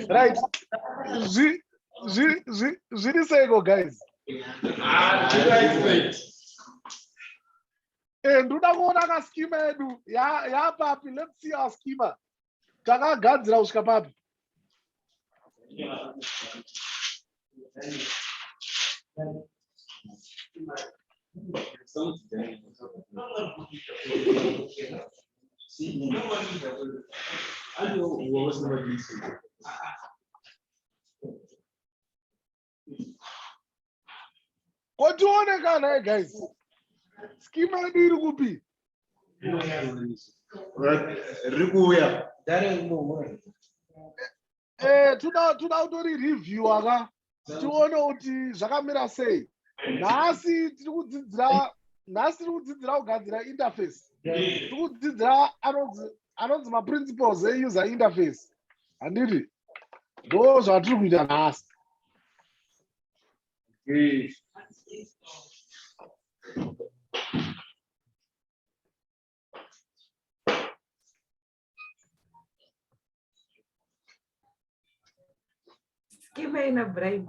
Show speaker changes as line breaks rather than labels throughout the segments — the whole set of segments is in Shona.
right zviri seiko guys ndoda kuona kaskima yedu yapapi let's see our skima takagadzira kusvika papi Ko tione kana eh, guys. Schema yedu iri kupi?
Riri kuuya.
Eh, tuda tuda utori review aka. Tione kuti zvakamira sei. Nhasi tiri kudzidzira nhasi tiri kudzidzira kugadzira interface. Tiri kudzidzira anonzi anonzi maprinciples euser interface handiti ndo zvatiri kuita nhasi
Give me a bribe.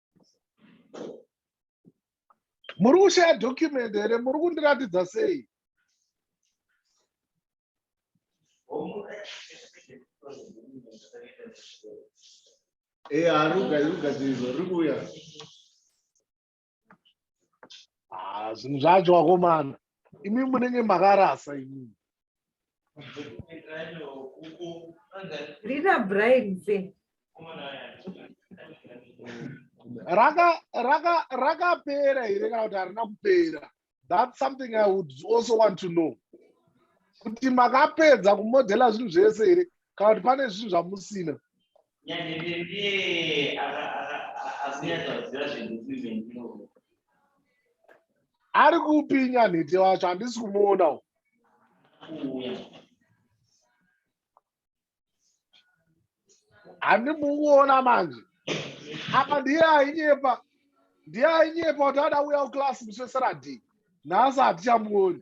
muri kushaya document here muri kundiratidza sei
Eh, aruga iruga ndizvo riri kuuya
ah, zvinhu zvacho wakomana imi munenge makarasa imimi
rina brian se
raka raka rakapera here kana kuti harina kupera that's something i would also want to know kuti makapedza kumodhela zvinhu zvese here kana kuti pane zvinhu zvamusina Nyange ndiye akunyatsoziva zvinhu zvivendiro. Ari kupi Nyanhete wacho handisi kumuona uko. Handimuona manje. Apa ndiye ainyepa. Ndiye ainyepa kuti ada uya kuclass musi weSaturday. Nhasi hatichamuoni.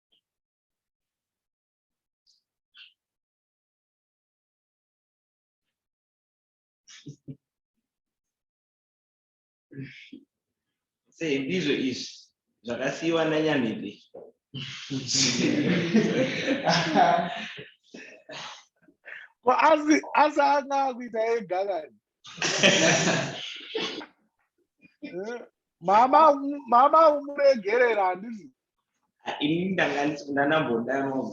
sei ndizvo izvi zvakasiyiwa nanyamipi
asi asi anga akuita ega kani mama mama umuregerera handizi ini
ndanga
ndanambodanwa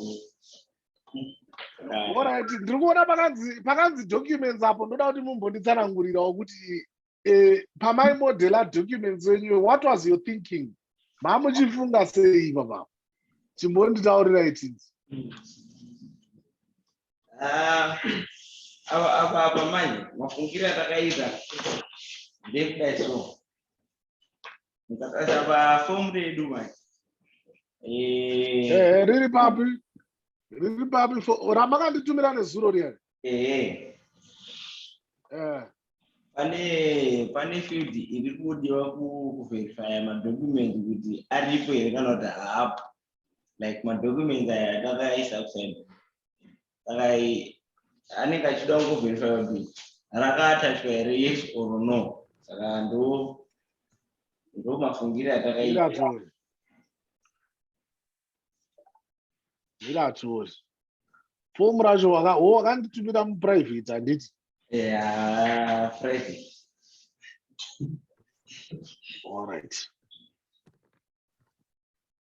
orit ndiri kuona pakanzi documents apo ndoda kuti mumbonditsanangurirawo kuti eh, pamai modela documents wenyu what was your thinking mamuchifunga sei papa chimbonditaurira itinzi
ah, apa apa manje mafungiro atakaita ndekudai so Mukatarisa pafomu redu manje. Eh, Eh,
riri papi? Riri papi? fo- Ramakanditumira nezuro riya. eh, Eh,
pane pane field iri kudiwa ku- kuverifya madocument kuti aripo here kana kuti haapo. Like madocument aya atakaisa kuside. saka anenge achida kungoverify kuti rakaatachwa here yes or no saka ndo ndo mafungire atakaita
mira atiori fomu racho wakanditumira muprivate handiti yeah, private all right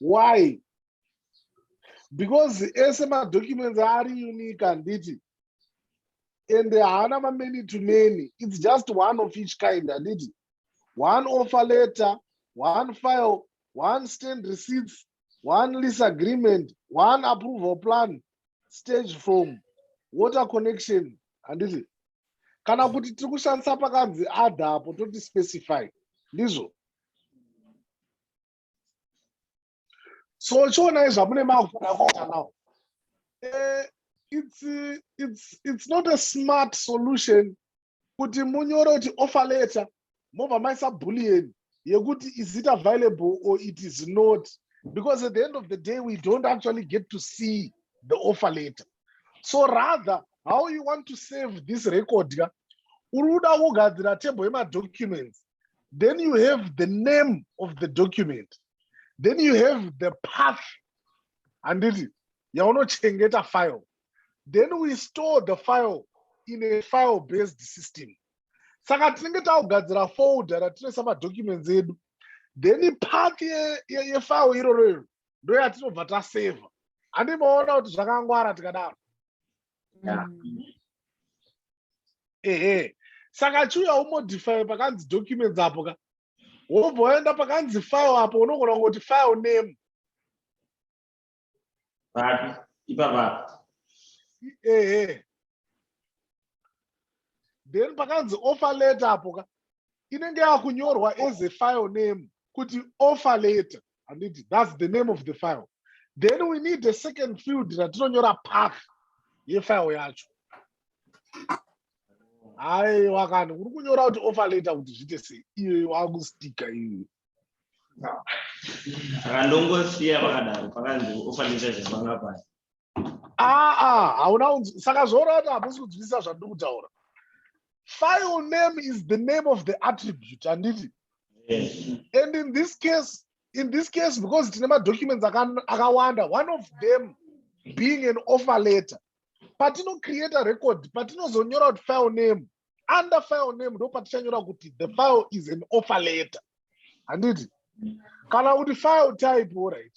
why because ese madocuments ari unique handiti and haana mamany to many its just one of each kind handiti one offer letter one file one stand receipts one lease agreement one approval plan stage form water connection handiti kana kuti tiri kushandisa pakanzi adha apo toti specify ndizvo so chionai zvamune mavhura kukanao eh, it's, it's, it's not a smart solution kuti munyore kuti offer letter mobva maisa bullion yekuti is it available or it is not because at the end of the day we don't actually get to see the offer letter so rather how you want to save this record ka uri kuda kugadzira table yemadocuments then you have the name of the document then you have the path handiti yaunochengeta file then we store the file in a file based system saka tinenge takugadzira folder ratinoisa madocuments edu then path yefile iroro iro ndoyatinobva taseva handi maona kuti zvakangwara tikadaro yeah. mm. ehe saka chiuya umodify pakanzi documents apo ka wobva waenda pakanzi file apo unogona kungoti file name
papi ipapa ehe
then pakanzi offer letter apo ka inenge yakunyorwa as a file name kuti offer letter handiti thats the name of the file then we need a second field ratinonyora path yefile yacho haiwa kana uri kunyora kuti offer letter kuti zviite sei iyoyo wakustika iyoyo
saka ndongosiya pakadaro pakanzi offer letter zvepanga paya aa ah, ah, hauna
saka zvoona kuti hamusi kunzwisisa zvandiri kutaura file name is the name of the attribute handiti and in this case in this case because tine madocuments akawanda one of them being an offer letter patinocreata record patinozonyora kuti file name under file name ndopatichanyora kuti the file is an offer letter handiti kana kuti file type orit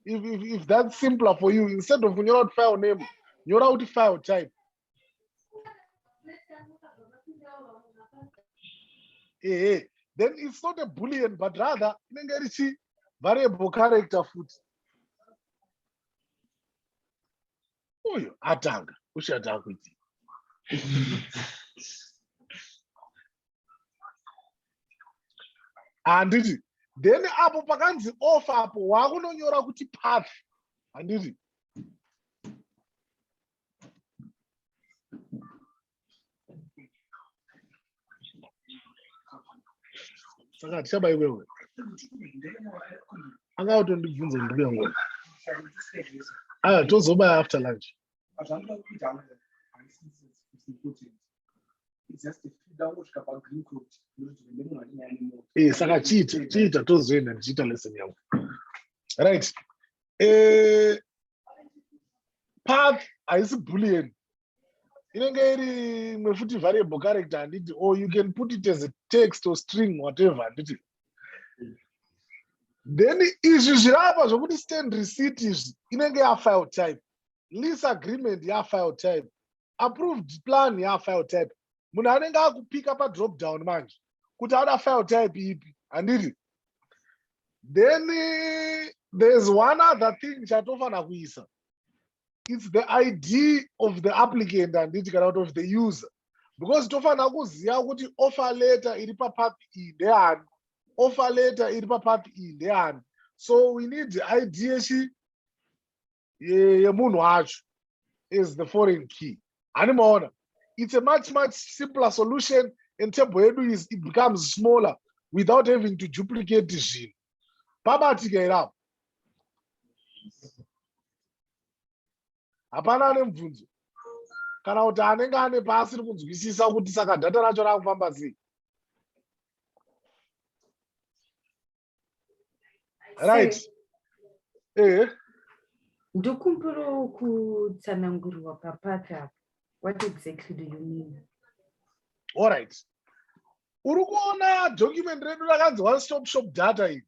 if, if, if that's simpler for you instead of kunyora kuti file name nyora kuti file type ehe then it's not a bullion but rather inenge iri chi variable character futi uyu atanga ushati akuitii handiti then apo pakanzi off apo waakunonyora kuti path handiti saka tichaba iwewe anga utondibvunza mbuya ngo aya ah, tozoba after lunch eh, saka chiita chiita tozoenda ndichiita lesson yangu right eh, path haisi bullian inenge iri imwe futi variable character handiti or you can put it as a text or string whatever handiti then izvi zviri apa zvokuti stand receipt izvi inenge yafile type lease agreement yafile type approved plan yafile type munhu anenge akupika padrop down manje kuti ada file type ipi handiti then there's one other thing chatofanira kuisa its the id of the applicant handiti kana kuti of the user because tofanira kuziva kuti offer letter iri papath iyi ndeani offer letter iri papath iyi ndeani so we need id yechi yemunhu wacho is the foreign key hani maona it's a much much simpler solution and table yedu is it becomes smaller without having to duplicate zvinhu pabatika irapo hapana ane mubvunzo kana kuti anenge ane paasiri kunzwisisa kuti saka dhata racho raakufamba sei right ehe
ndokumbirawo kutsanangurwa papata what exactly do you mean all
right uri kuona document redu rakanzi one stop shop data iri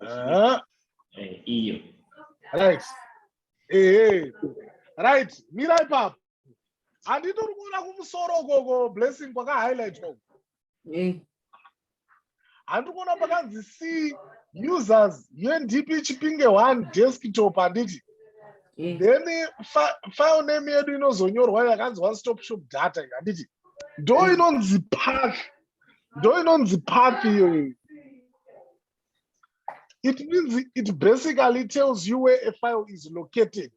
Ah. Eh, iyo right
ehe right mira ipapo handiti uri kuona kumusoro ukoko blessing kwakahighlightwa uko Eh, handiri kuona pakanzi c users undp chipinge one desktop handiti eh, then fi- file name yedu inozonyorwa yakanzi one stop shop data iyo handiti ndo inonzi path ndo inonzi path iyoyo it means it basically tells you where a file is located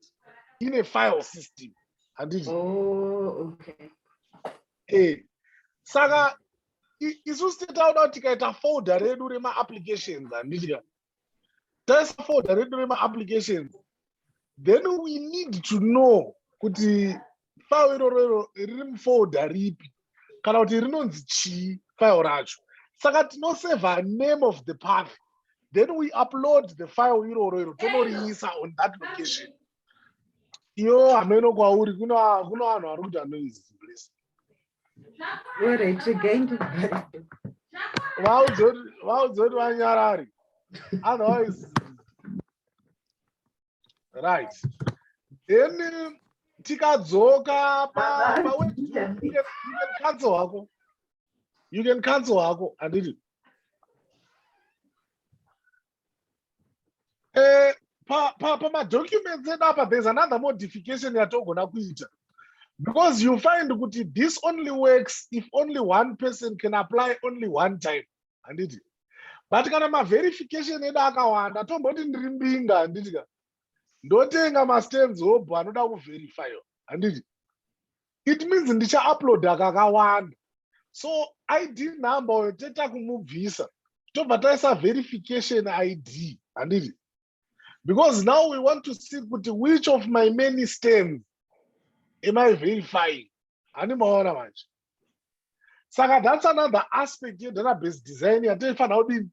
in a file system handiti oh,
okay. hey. Eh, saka
isu sititaoda kuti tikaita folder redu remaapplications handiti ka taisafoda redu remaapplications then we need to know kuti file iroro iro riri mufolda ripi kana kuti rinonzi chii file racho saka tinoseva name of the path then we upload the file iroro iro tonoriisa on that location iyo hameno kwauri kuno vanhu vari kuita noise vaudzoti vanyarari otherwise right then tikadzoka pacancel hako you can cancel hako handiti Eh, pamadocuments edu apa there's another modification yatogona kuita because you find kuti this only works if only one person can apply only one time handiti but kana maverification edu akawanda tomboti ndiri mbinga handiti ka ndotenga mastands hobho anoda kuverifyo handiti it means ndichauploada kakawanda so id number oyo teta kumubvisa tobva taisa verification id handiti because now we want to see kuti which of my many stands am i verifying handi maona manje saka that's another aspect yedatabase design yataifanira kudini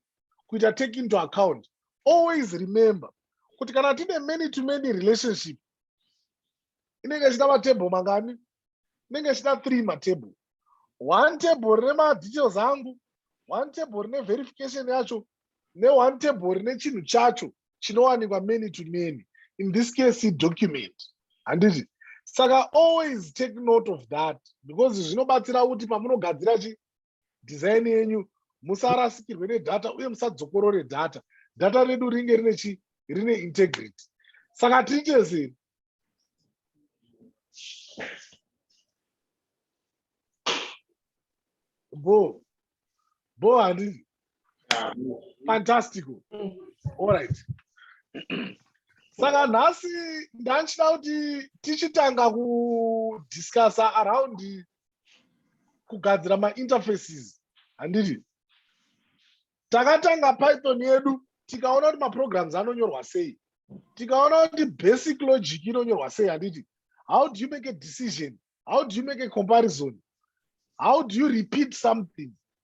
kuita take into account always remember kuti kana tine many to many relationship inenge ichida matable mangani inenge ichida three matable one table rine madetails angu one table rine verification yacho neone table rine chinhu chacho chinowanikwa many to many in this case document handiti saka always take note of that because zvinobatsira kuti pamunogadzira chi design yenyu musarasikirwe nedata uye musadzokorore data data redu ringe rine chi rine integrity saka tiite sei bo bo handizi fantastico allright saka nhasi ndanchida kuti tichitanga kudiscussa around kugadzira mainterfaces handiti takatanga python yedu tikaona kuti maprograms anonyorwa sei tikaona kuti basic logic inonyorwa sei handiti how do you make a decision how do you make a comparison how do you repeat something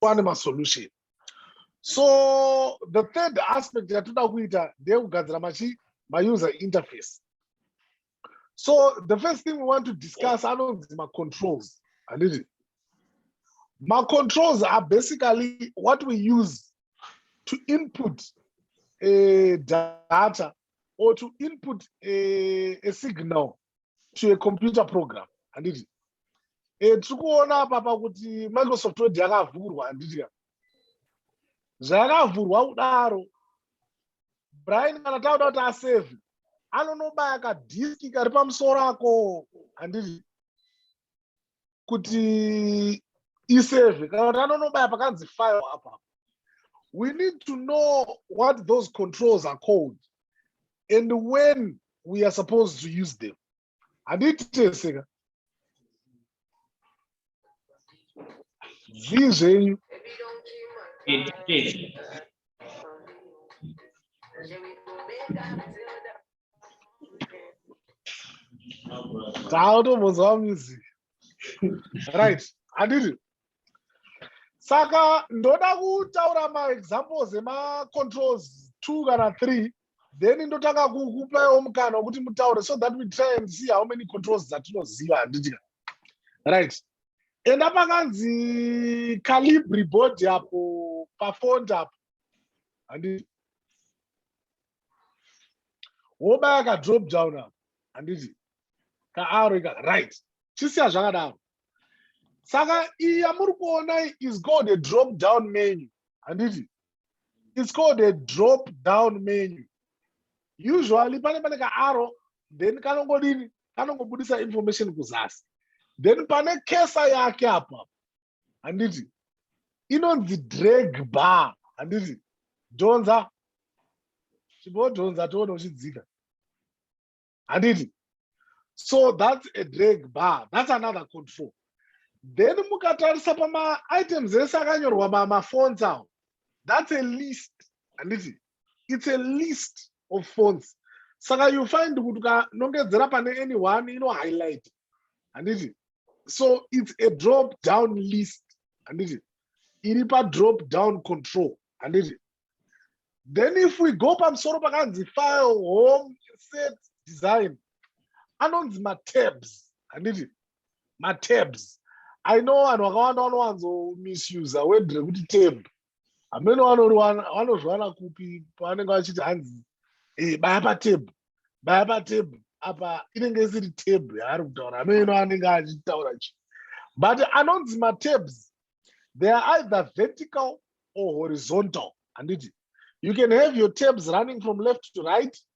pane masolution so the third aspect yatoda kuita ndeyekugadzira machi mauser interface so the first thing we want to discuss anonzi macontrols handiti macontrols are basically what we use to input a eh, data or to input a, eh, a signal to a computer program handiti e, eh, tiri kuona apapa kuti microsoft word yakavhurwa handiti ka zvayakavhurwa kudaro brian kana tauda kuti asave anonobaya kadiski kari pamusoro ako handiti kuti isave kana kuti anonobaya pakanzi file apa we need to know what those controls are called and when we are supposed to use them handiiti tese ka zvii zvenyu dzautombonzwa music right handiti saka ndoda kutaura maexamples emacontrols two kana three then ndotanga kukupaiwo mukana wekuti mutaure so that we try and see how many controls dzatinoziva handitika right enda pakanzi calibri board apo pafond apo handiti wobaya ka drop down apo handiti kaaro ika right chisiya zvakadaro saka iyi yamuri kuona is called a drop down menu handiti it's called a drop down menu usually pane pane kaaro then kanongodini kanongobudisa information kuzasi then pane kesa yake apo apo handiti inonzi drag bar handiti dhonza chimbodhonza toona uchidzika handiti so that's a drag bar that's another control then mukatarisa pamaitems ese akanyorwa mamafonts awo that's a list handiti its a list of phones saka you find kuti ukanongedzera pane any one ino highlight handiti so its a drop down list handiti iri padrop down control handiti then if we go pamusoro pakanzi file home set design anonzi matabs handiti matabs i know vanhu vakawanda vanowanzo misuse word rekuti tab hameno vanozviwana kupi pavanenge vachiti hanzi hey, eh, baya patebhu baya patebhu apa inenge isiri tebhu yaari kutaura hameno anenge achitaura chi but anonzi matabs they are either vertical or horizontal handiti you can have your tabs running from left to right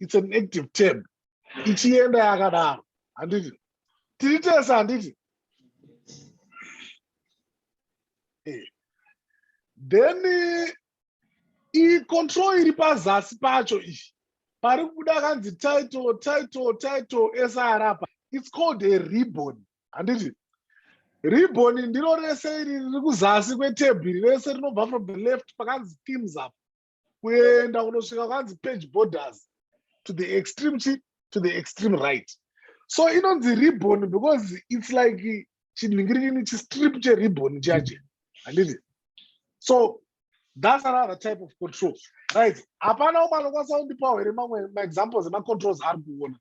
its an active term ichienda yakadaro handiti tiri tese handiti eh. then iyi control iri pazasi pacho iyi pari kubuda kanzi title title title esarapa its called a ribbon handiti ribbon ndiro rese iri riri kuzasi kwetebhiri rese rinobva from the left pakanzi themes up kuenda kunosvika kwanzi page borders to the extreme chi to the extreme right so inonzi ribbon because its like chinhingirini chistrip cheribbon chaje handiti so that's another type of control right hapana umwe anokwanisa kundipawo here mamwe maexamples emacontrols ari kuona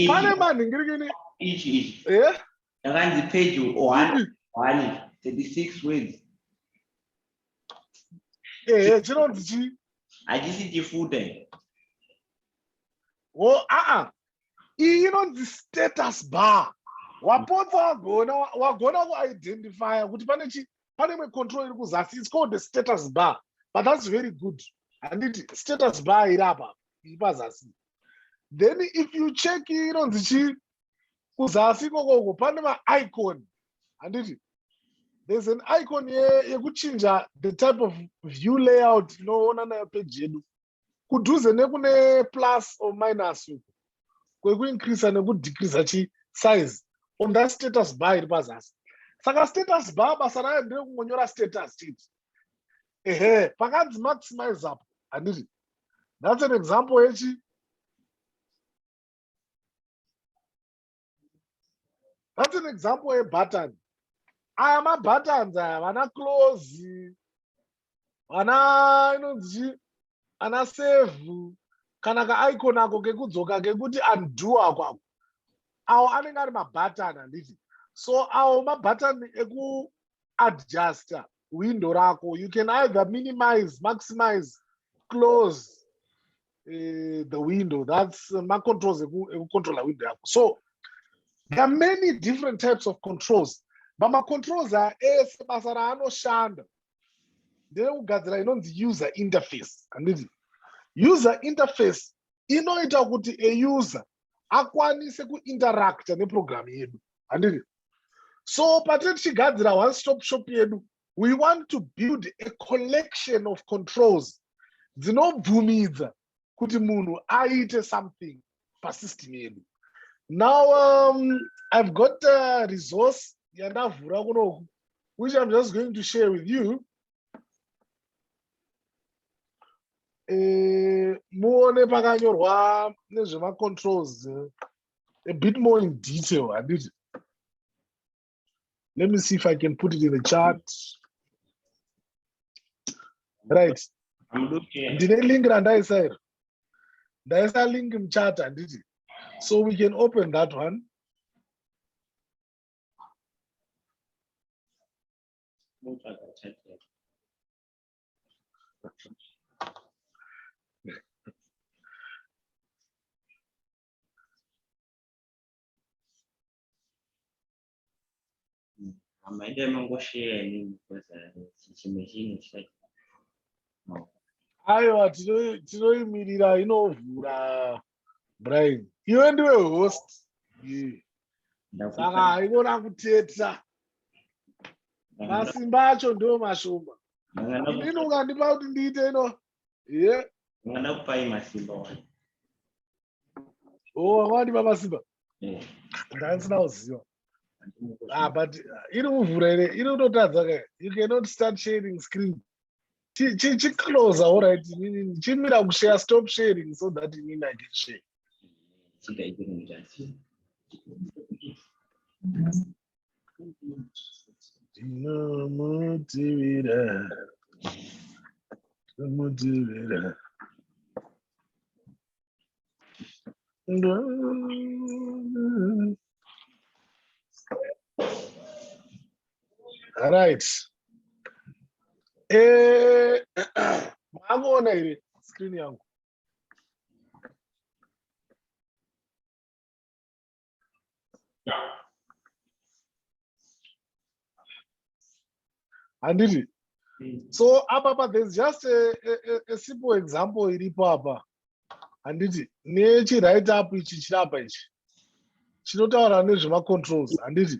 pane manhingirikini ichi ichi
eh?
yakanzi page
136 words
ehe eh, chinonzi chi hachisi
chifuta
o oh, aa iyi inonzi status bar wapotsa wagona wagona kuidentifya kuti pane chi pane imwe control iri kuzasi its called the status bar but that's very good handiti status bar iri apa iri pazasi then if you check inonzi chii kuzasi ikokoko pane maicon handiti there's an icon yekuchinja ye the type of view layout tinoona nayo peji yedu kudhuze nekune plus or minus uku kwekuincreasa nekudecreasa chi size on that status bar iri pazasi saka status bar basa rayo nderekungonyora status chete ehe pakanzi maximize up handiti that's an example yechi that's an example yebutton aya mabuttons aya vana close vana inonzi ana save kana kaicon ako kekudzoka kekuti undo ako ako awo anenge ari mabutton handiti so awo mabutton eku adjuster window rako you can either minimize maximize close uh, the window that's uh, macontrols ekucontrola window yako so there are many different types of controls but macontrols are ese basa raanoshanda ndeyekugadzira inonzi user interface handiti user interface inoita kuti a user akwanise kuinteracta neprogramu yedu handiri so patine tichigadzira one stop shop yedu we want to build a collection of controls dzinobvumidza kuti munhu aite something pasystem yedu now um, i've got a resource yandavhura kunoku which i'm just going to share with you eh, muone pakanyorwa nezvemacontrols a bit more in detail handiti let me see if i can put it in the chart right
ndine link randaisa
iri ndaisa link muchat handiti so we can open that one
Amaida mangosheya ini because chimwe chinhu chati aiwa
tinoimirira inovhura Brian, iwe ndiwe host. Saka haikona kuteta. Masimba acho ndiwo mashoma. Ndino ukandipa kuti ndiite ino. Yeah.
Ngana kupai masimba
wani. Oh, wani baba simba. Eh. Ndani na uziwa. Ah, but iri kuvhura ere? Iri kutotadza ke. You cannot start sharing screen. chiclose all right inini chimira kushare stop sharing so that inini i can share tinomutivira tinomutivira Thank you. right eh makuona here screen yangu handiti mm. so apa pa there's just a, a, a simple example iripo apa handiti nechiright up ichi chiri apa ichi chinotaura nezvemacontrols handiti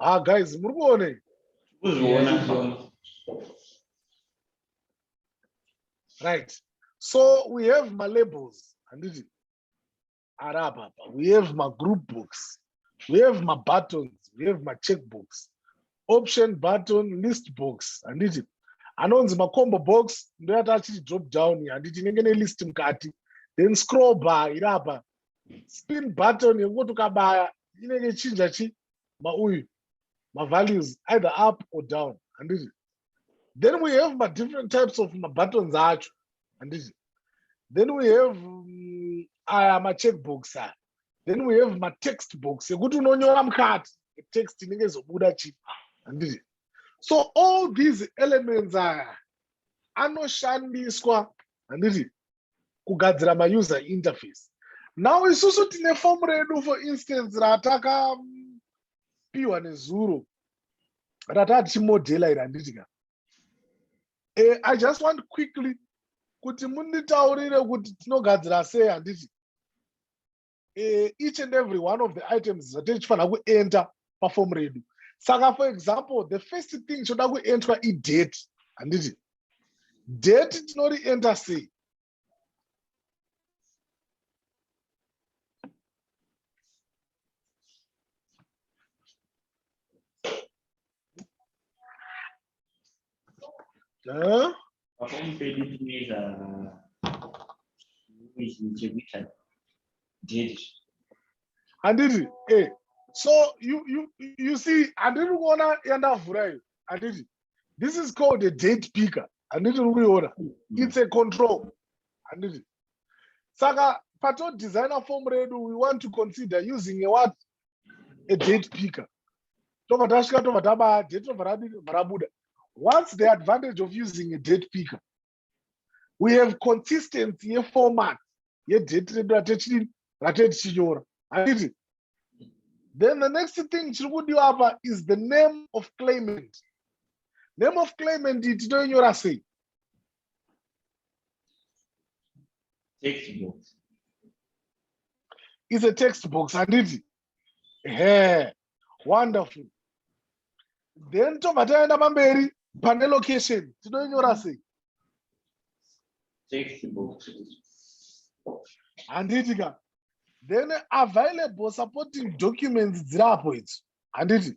Ah guys, muri kuone? Kuzviona. Right. So we have my labels, handiti? Ari apa apa. We have my group books. We have my buttons. We have my check books. Option button list books, handiti? Anonzi ma combo box ndoyati achiti drop down handiti inenge ne list mukati. Then scroll bar iri apa spin button yekungoti ukabaya inenge chinja chi mauyu mavalues either up or down handiti then we have madifferent types of mabuttons acho handiti then we have mm, aya um, macheckbox aya then we have matext box ekuti unonyora mukati text inenge izobuda chi handiti so all these elements aya anoshandiswa handiti kugadzira mauser interface now isusu tine form redu for instance ratakapiwa mm, nezuro rataa tichimodhela iri handiti ka eh, i just want quickly kuti munditaurire kuti tinogadzira sei handiti uh, each and every one of the items zvatinenge tichifanira kuenter pafomu redu saka for example the first thing choda kuentwa idate handiti date tinorienter sei Huh? handiti eh so you you you see handiri kuona yandavhura iyo handiti this is called a date picker handiti uri kuiona mm. it's a control handiti saka pato designer form redu we want to consider using a what a date picker tobva tasvika tobva tabaya date tobva radini bva rabuda whats the advantage of using a date picker we have consistency yeformat yedate redu ratechidini ratee tichinyora handiti then the next thing chiri kudiwa apa is the name of claimant name of claimant tinoinyora sei
Text box.
It's a text box, and it. Hey, wonderful. Then to Matayana Mamberi, pane location. Tinoinyora sei? Text
box.
Handiti ka. Then available supporting documents dzirapo idzi. Handiti?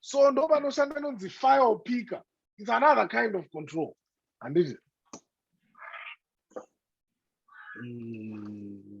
so ndo vanoshanda inonzi file picker its another kind of control handiti mm.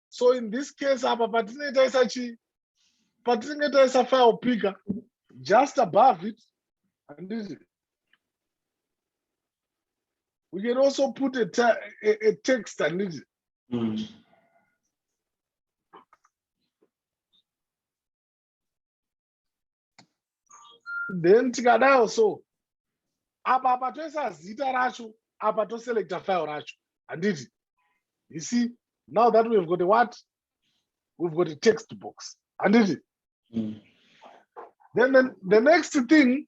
so in this case apa patinenge taisa chii patinenge taisa file picker just above it handiti we can also put a, te a, a text handiti mm. then tikadao so apa apa toisa zita racho apa toselecta file racho handiti you see now that we've got a what we've got a text box handiti mm. then the, the next thing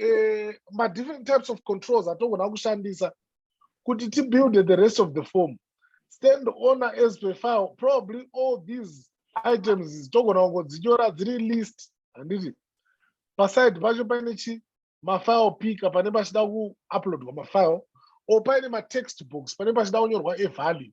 uh, ma different types of controls atogona kushandisa kuti tibuild the rest of the form stand owner as per file probably all these items togona kungodzinyora dziri list handiti paside pacho paine chi mafile picker pane pachida kuuploadwa mafile or paine matext box pane pachida kunyorwa evalue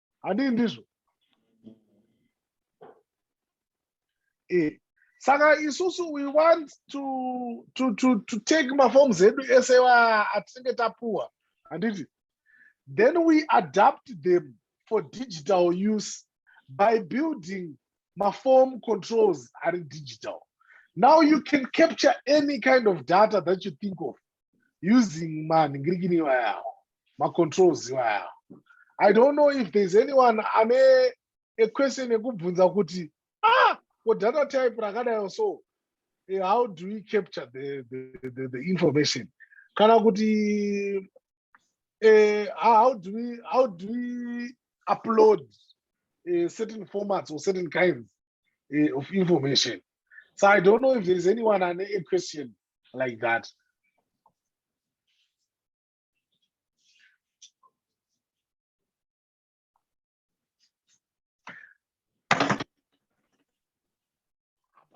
handii ndizvo eh, saka isusu we want to, to, to, to take maforms edu ese atinenge tapuwa handiti then we adapt them for digital use by building maform controls ari digital now you can capture any kind of data that you think of using manhingirikini iwayawo macontrols iwayawo i don't know if there's anyone ane equestion yekubvunza kuti ah ko data type rakadayo so eh, how do we capture the, the, the, the information kana kuti eh, how do we how do we upload uh, certain formats or certain kinds uh, of information so i don't know if there is anyone ane a question like that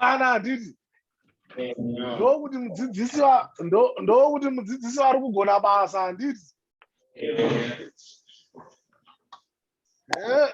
hapana handiti ndokuti mudzidzisi ndokuti mudzidzisi vari kugona basa handiti eh?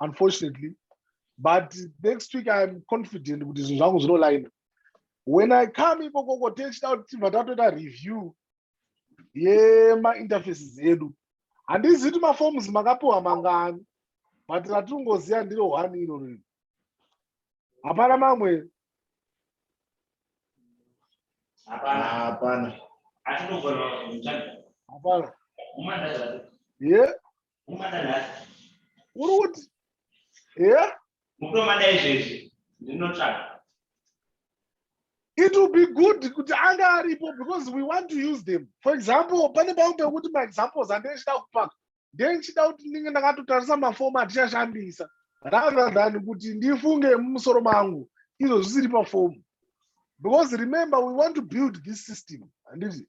unfortunately but next week iam confident kuti zvinhu zvangu zvinolaina when i come ikokoko techida kuti tibva tatoita review yemainterfaces edu handizi kuti maforms makapiwa mangani but ratingoziva ndiro one iro rino hapana mamwe
hapana
ye uri kuti yeah? mukutomada izvezvi ndinotsvaga it will be good kuti anga aripo because we want to use them for example pane pamwe pekuti maexamples andechida kupaka ndechida kuti ndinge ndakatotarisa mafoma atichashandisa rather than kuti ndifunge mumusoro mangu izvo zvisiri pafomu because remember we want to build this system handiti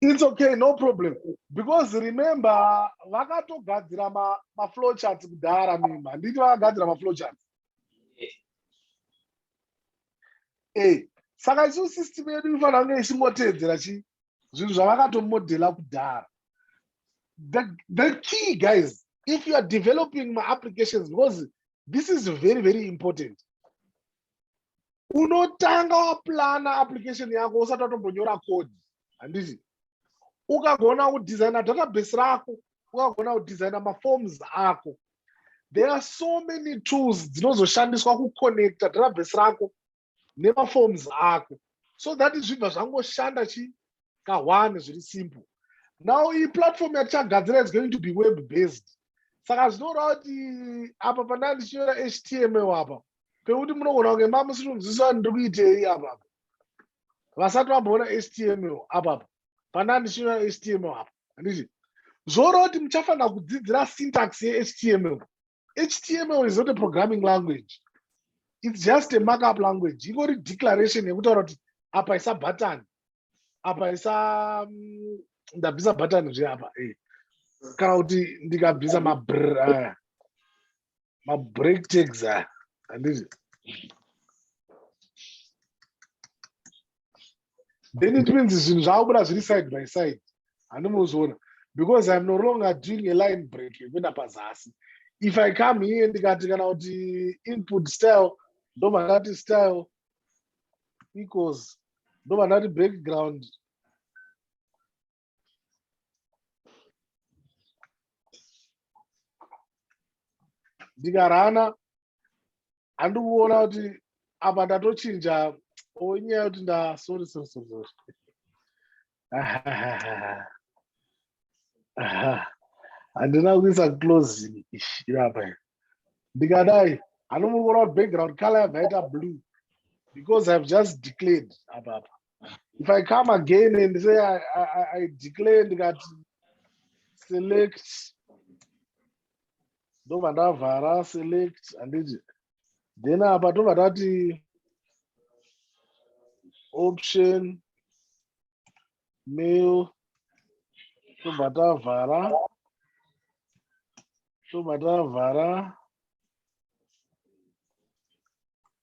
It's okay, no problem. Because remember, vakatogadzira ma, ma flow charts kudhara mimi. Handiti vakagadzira ma flow charts. Eh, saka isu system yedu inofanira kunge ichingotedzera chi zvinhu zvavakatomodhela kudhara. The, the key guys, if you are developing my applications, because this is very, very important. unotanga waplana application yako usati watombonyora code handiti ukagona kudesigna database rako ukagona kudesigna maforms ako there are so many tools dzinozoshandiswa kuconnecta database rako nemaforms ako so that zvibva zvangoshanda chi ka one zviri simple now iyi platform yatichagadzira is going to be web based saka zvinoreva kuti apa pandaa ndichinyora html apa pekuti munogona kunge ma musiri kunzwisisa ndiri kuitei apapa vasati vamboona html apapa pandaa ndichinyora html apa handiti zvoreva kuti muchafanira kudzidzira syntax yehtml html is not a programming language it's just a markup language ingori declaration yekutaura kuti apa isa button apa isa mm, ndabvisa button zve apa eh. kana kuti ndikabvisa mabr aya mabreak tags aya handizvi then it means zvinhu zvakubuda zviri side by side handimuzoona because iam no longer doing a line break yekuenda pazasi if i come here ndikati kana kuti input style ndobva ndati style equals ndobva ndati background ndikarana handi kuona kuti apa ndatochinja onyaya kuti nda sorry sorry sorry sorry handina kuisa close irapa ndikadai hanomuri kuona kuti background color yabva yaita blue because i've just declared apapa if i come again and say i, I, I declare ndikati select ndobva ndavhara select handiti then apa tobva tati option mail tobva tavhara tobva tavhara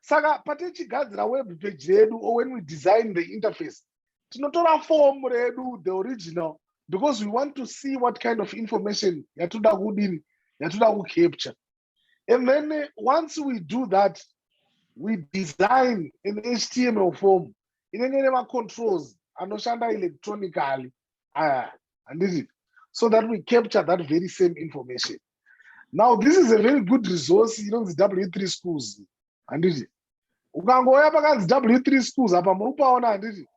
saka patichigadzira web page redu or when we design the interface tinotora form redu the original because we want to see what kind of information yatoda kudini yatoda kucapture and then eh, once we do that we design an html form inenge ine macontrols anoshanda electronically aya handiti so that we capture that very same information now this is a very good resource inonzi w3 schools handiti ukangouya pakanzi w3 schools apa muri kupaona handiti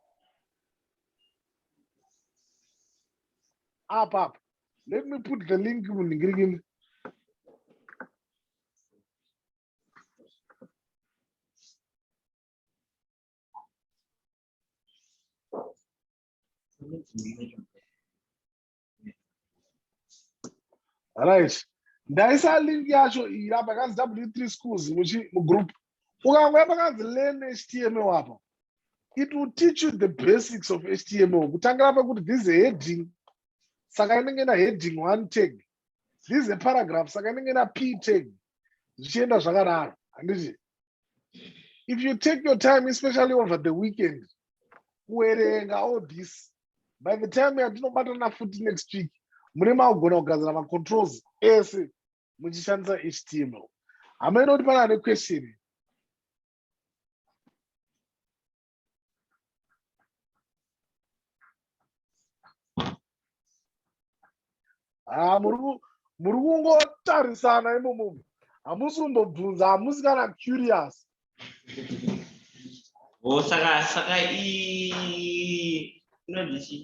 apa apa let me put the link munhingirikini Thank you. right ndaisa link yacho iyi apa yakanzi w3 schools mugroup ukangouya pakanzi learn html apa it will teach you the basics of html kutangira pakuti this is a heading saka inenge ina heading one tag this is a paragraph saka inenge ina p tag zvichienda zvakadaro handiti if you take your time especially over the weekend kuerenga all this by the time yatinobatana futi next week mune makugona kugadzira macontrols ese muchishandisa html hama inoti pana ane question haa muri kungotarisana imomo hamusi kumbobvunza hamusi kana curious
o oh, saka saka inondichii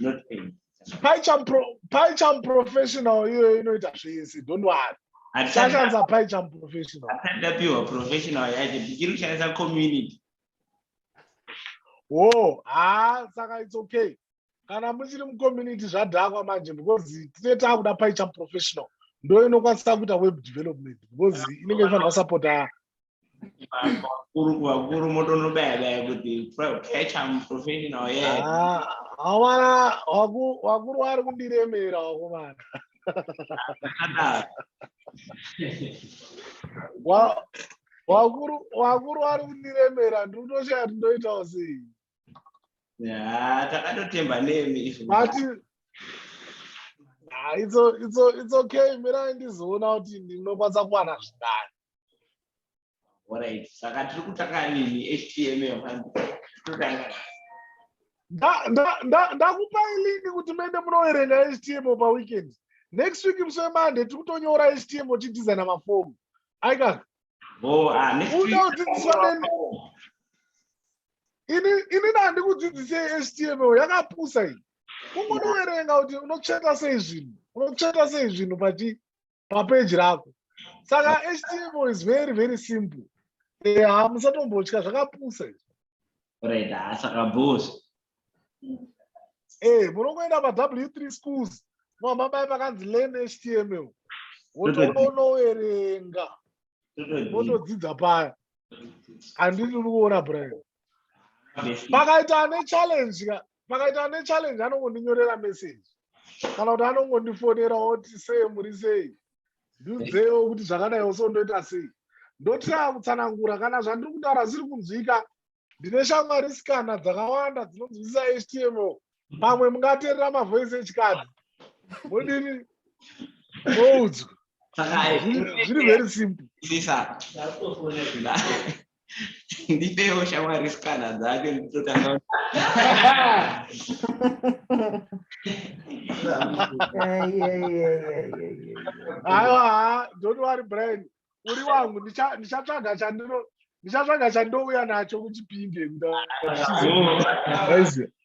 not pain Paicham
pro, Paicham professional iyoyo inoita zvese don't worry sashandisa Paicham professional ndapiwa professional
yacho ndichiri kushandisa community wo
oh, haa saka it's okay kana muchiri mucommunity zvadhakwa manje because tine taakuda Paicham professional ndo inokwanisa kuita web development because inenge ifanira kusapota
vakuru motonobaya baya kuti catch am professional ye awana
vakuru vari kundiremera vakomana vakuru vari kundiremera ndiri kutoshaya kuti ndoitawo sei
takatotemba nemi
it's okay mirai ndizoona kuti ndinokwanisa kuwana zvindani
Alright, saka tiri kutanga nini HTML manje. Totanga
nani? Nda- nda- nda- ndakupai link kuti muende munoverenga html paweekend next week musi wemonday tiri kutonyora html tichidesigna mafomu aika Oh, ah, next Uda
week- kudzidziswa neni.
ini ini ndandikudzidzisei html yakapusa iyi kungonoverenga kuti unotsveta sei zvinhu unotsveta sei zvinhu pachi papeji rako saka html is very very simple eh, ha musatombotya zvakapusa izvo right ha
saka bos e
munongoenda paw three schools mamamai pakanzi learn html wotonoverenga wotodzidza paya handiti uri kuona brian pakaita ane challenge ka pakaita ane challenge anongondinyorera message kana kuti anongondifonera oti sei muri sei ndiudzewo kuti zvakadaiwo so ndoita sei ndotanga kutsanangura kana zvandiri kutaura zviri kunzwika ndine shamwari sikana dzakawanda dzinonzwisisa htmo pamwe mungaterera mavoice echikadzi modini moudzwa zviri very simple
ndipewo shamwari sikana dzake nditotanga
aiwa don't worry brian uri wangu ndichatsvaga chandino ndichatsvaga chandouya nacho kuchipinde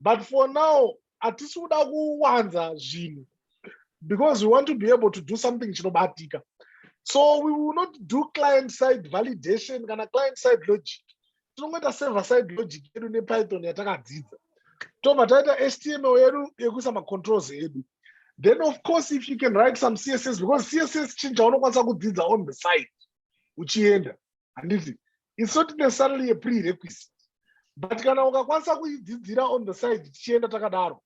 but for now hatisi kuda kuwanza zvinhu because we want to be able to do something chinobatika so we will not do client side validation kana client side logic tinongoita server side logic yedu nepython yatakadzidza tobva taita html yedu yekuisa macontrols edu then of course if you can write some css because css chinhu chaunokwanisa kudzidza on the side uchienda handiti isu tine salary yeprerequisite but kana ukakwanisa kuidzidzira on the side tichienda takadaro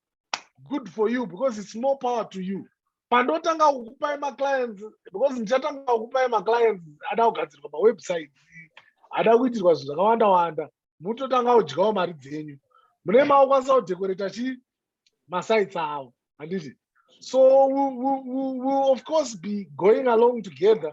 good for you because it's more power to you pandotanga kukupai maclients because ndichatanga kukupai maclients ada kugadzirwa mawebsite ada kuitirwa zvinhu zvakawanda wanda mutotanga kudyawo mari dzenyu mune maokwanisa kudekoreta chi masites avo handiti so we, we, we, we of course be going along together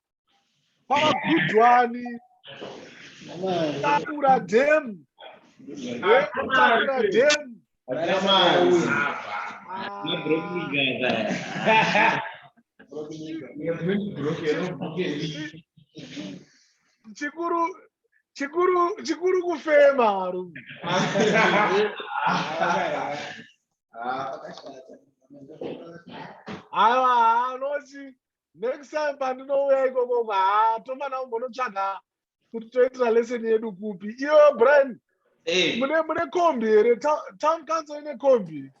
kwavagudwani takura dem takura dem chikuru chikuru chikuru kufema varume aiwa anoti next time pandinouya ikoko haa tomana umbonotsvaga kuti toitira lesson yedu kupi iyo brian eh. mune mune kombi here town council ine kombi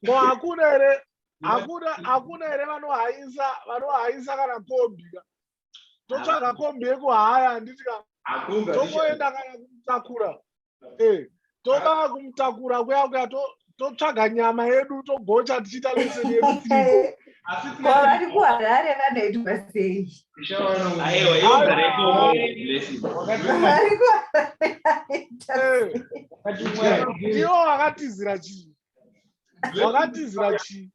ko hakuna here hakuna hakuna here vanohaisa vanohaisa kana kombi ka totsvaga kombi yekuhaya handiti ka tomoenda kana kumutakura eh, toda kumutakura kuya kuya totsvaga nyama yedu togocha tichiita lese yedu vari
kuharare vanoitwa sei
ndiwo vakatizira chii wakatizira chii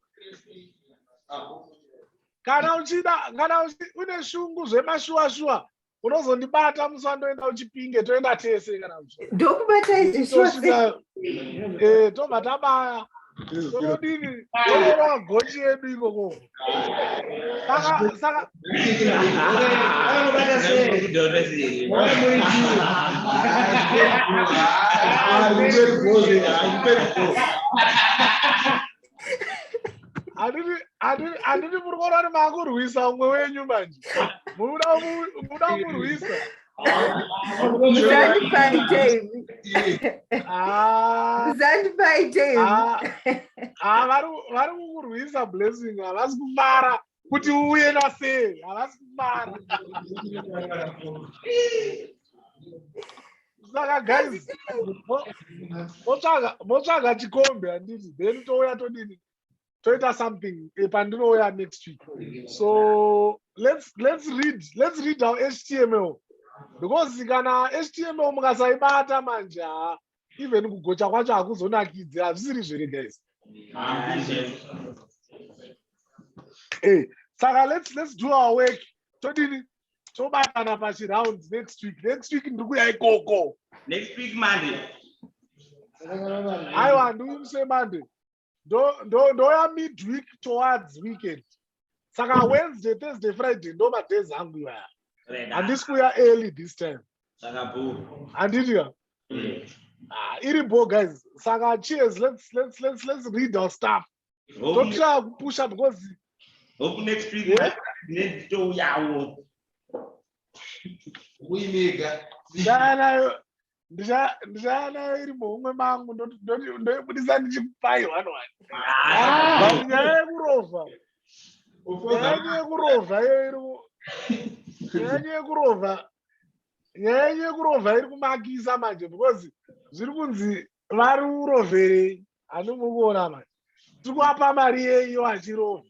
kana uchida kana une shungu zvemashuwa shuwa unozondibata musi wandoenda uchipinge toenda tese kana ndokubata
izvitobva
eh, tabaya todini toorova gochi yedu ikokoko Saka saka handiti muri kuona kuti maakurwisa umwe wenyu manje muda kurwisa vari kukurwisa blessing havasi kufara kuti uye nasei havasi kufara saka guys motsvaga chikombe handiti then touya todini toita something eh, pandinouya next week so let's, let's read let's read our html because kana html mukasaibata manje haa even kugocha kwacho hakuzonakidzi hazvisiri zvere guys hey, eh, saka let's, let's do our work todini tobatana pachiround next week next week ndiri kuya ikoko next week
monday
aiwa ndiuye muse monday ndouya ndo, ndo midweek towards weekend saka wednesday thursday friday ndo madays angu iwaya handisi kuya early this time
handitika mm.
ah, iri bo guys saka cheers let's, let's, let's, let's read our stuff totry kupusha because hope next
week yeah? nditouyawo
uimega ndanayo
ndichaana iri muhumwe mangu ndoibudisa ndichikupai one one ah. nyaya yekurova nyaya yekurova iyo iri nyaya yekurova nyaya yekurova iri kumakisa manje because zviri kunzi vari uroverei handimukuona manje tiri kuapa mari yeiyo achirova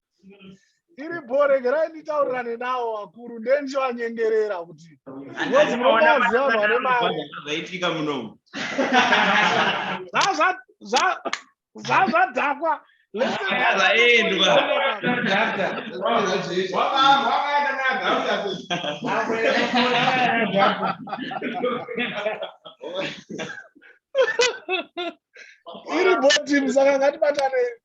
iripo regerai nditaurirane nawo vakuru ndendichivanyengerera kuti ngozi
munoona
maziva vanhu vane mari zvaitika munomu zvazvadhakwa iri bho team saka ngatibatanei